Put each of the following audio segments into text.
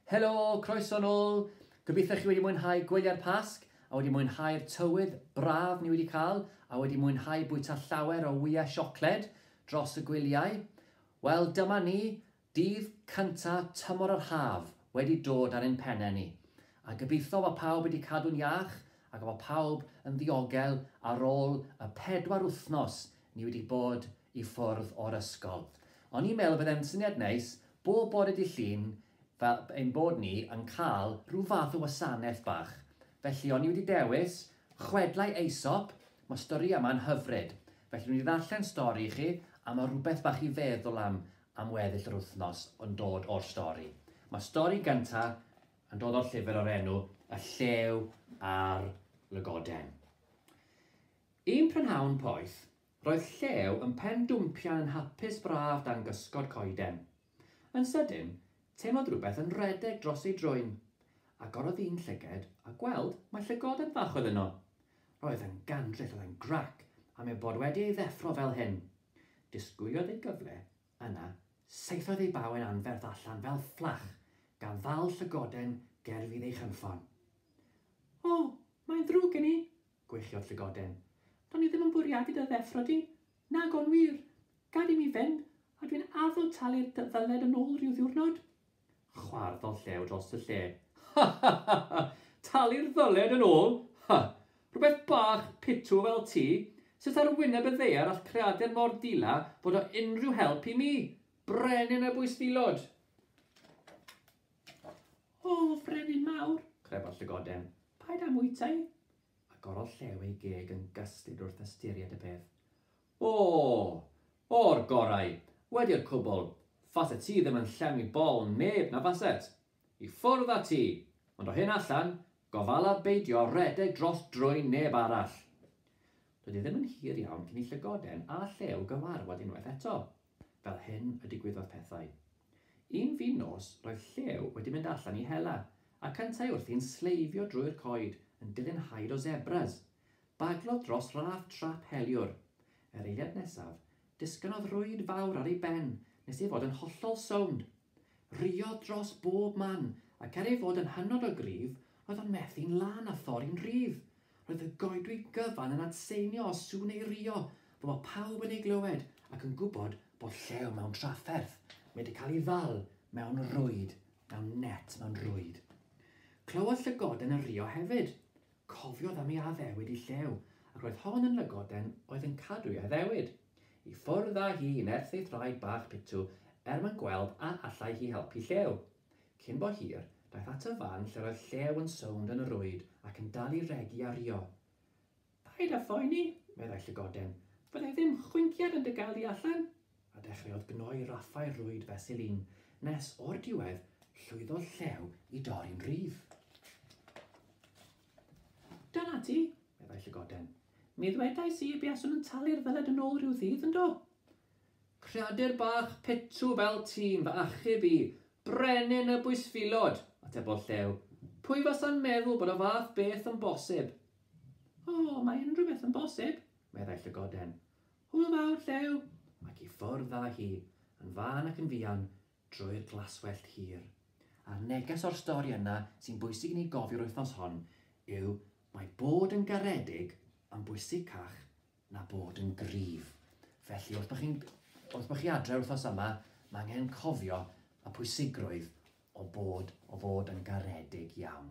Helo, croeso nôl! Gobeithio chi wedi mwynhau gwyliau'r Pasg a wedi mwynhau'r tywydd braf ni wedi cael a wedi mwynhau bwyta llawer o wyau siocled dros y gwyliau. Wel, dyma ni, dydd cynta tymor yr haf wedi dod ar ein pennau ni. A gobeithio fod pawb wedi cadw'n iach ac fod pawb yn ddiogel ar ôl y pedwar wythnos Ni wedi bod i ffwrdd o'r ysgol. O'n i'n meddwl fydde'n syniad neis bob bore Dydd Llun fel ein bod ni yn cael rhyw fath o wasanaeth bach. Felly o'n i wedi dewis chwedlau Aesop, mae'r storïau yma'n hyfryd. Felly dwi mynd i ddarllen stori i chi a mae rhywbeth bach i feddwl am am weddill yr wythnos yn dod o'r stori. Mae'r stori gyntaf yn dod o'r llyfr o'r enw Y Llew a'r Lygoden. Un prynhawn poeth, roedd Llew yn pen dwmpian yn hapus braf dan gysgod coeden. Yn sydyn, teimlodd rhywbeth yn rhedeg dros ei drwyn. Agorodd un llyged a gweld mai llygoden fach oedd yno. Roedd yn gandryll, oedd e'n grac am ei bod wedi ei ddeffro fel hyn. Disgwyliodd ei gyfle, yna saethodd ei bawen anferth allan fel fflach, gan ddal llygoden ger fydd ei chynffon. O, mae'n ddrwg gen i! Gweichiodd Llygoden. Do'n i ddim yn bwriadu dy ddeffro di. Nag o'n wir. Gad i mi fynd, a dwi'n addo talu'r dy ddyled yn ôl rhyw ddiwrnod. Chwarddodd Llew dros y lle. Ha ha ha ha! Talu'r ddyled yn ôl? Ha! Rhywbeth bach pitw fel ti? Sut ar wyneb y ddaear all creadur mor dila fod o unrhyw help i mi, brenin y bwysfilod? O, frenin mawr! crebodd Llygoden. Paid â mwytau! agorodd Llew ei geg yn gyslyd wrth ystyried y peth. O! O'r gorau! Wedi'r cwbl! Faset ti ddim yn llenwi bol neb, na faset? I ffwrdd â ti! Ond o hyn allan, gofala beidio rhedeg dros drwyn neb arall! Doedd e ddim yn hir iawn cyn i Llygoden a Llew gyfarfod unwaith eto. Fel hyn y digwyddodd pethau. Un fin nos, roedd Llew wedi mynd allan i hela, ac yntau wrthi'n sleifio drwy'r coed, yn dilyn haid o sebras. Baglodd dros raff trap heliwr. Yr eiliad nesaf, disgynnodd rwyd fawr ar ei ben, nes ei fod yn hollol sownd. Rhuodd dros bob man, ac er ei fod yn hynod o gryf, roedd o'n methu'n lân a thorri'n rhydd. Roedd y goedwig gyfan yn adseinio os sŵn ei rhuo, fel bod pawb yn ei glywed ac yn gwybod bod llew mewn trafferth, mae wedi cael ei ddal mewn rwyd, mewn net mewn rwyd. Clywodd llygoden y rhuo hefyd. Cofiodd am ei addewid i Llew, ac roedd hon yn lygoden oedd yn cadw ei addewid i ffwrdd â hi yn erthu thraed bach pitw er mwyn gweld a allai hi helpu Llew. Cyn bo hir, daeth at y fan lle'r oedd Llew yn sownd yn y rwyd ac yn dal i regi a rhuo. Paid â phoeni, meddai llygoden, fyddai ddim chwinciad yn dy gael di allan. a dechreuodd gnoi raffau rwyd fesul un, nes, o'r diwedd, llwyddodd Llew i dorri'n rhydd. Dyna ti, meddai Llygoden. Mi ddwedais i y buaswn yn talu'r ddyled yn ôl rhyw ddydd, yndo? Creadur bach petw fel ti'n fy achub i, brenin y bwysfilod, atebodd Llew. Pwy fasa'n meddwl bod y fath beth yn bosib? O, mae unrhyw beth yn bosib, meddai Llygoden. Hwyl fawr, Llew! Ac i ffwrdd â hi, yn fân ac yn fuan, drwy'r glaswellt hir. A'r neges o'r stori yna sy'n bwysig i ni gofio'r wythnos hon yw mae bod yn garedig yn bwysicach na bod yn gryf. Felly, wrth bod chi'n wrth bod chi adre wythnos yma, mae angen cofio y pwysigrwydd o fod o fod yn garedig iawn.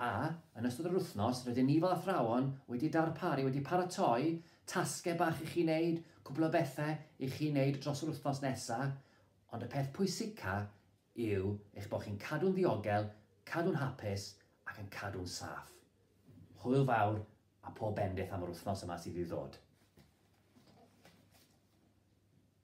A, yn ystod yr wythnos, rydyn ni fel athrawon wedi darparu, wedi paratoi tasgau bach i chi wneud, cwpl o bethau i chi wneud dros yr wythnos nesaf, ond y peth pwysica yw eich bod chi'n cadw'n ddiogel, cadw'n hapus ac yn cadw'n saff. Hwyl fawr a pob bendith am yr wythnos yma sydd i ddod.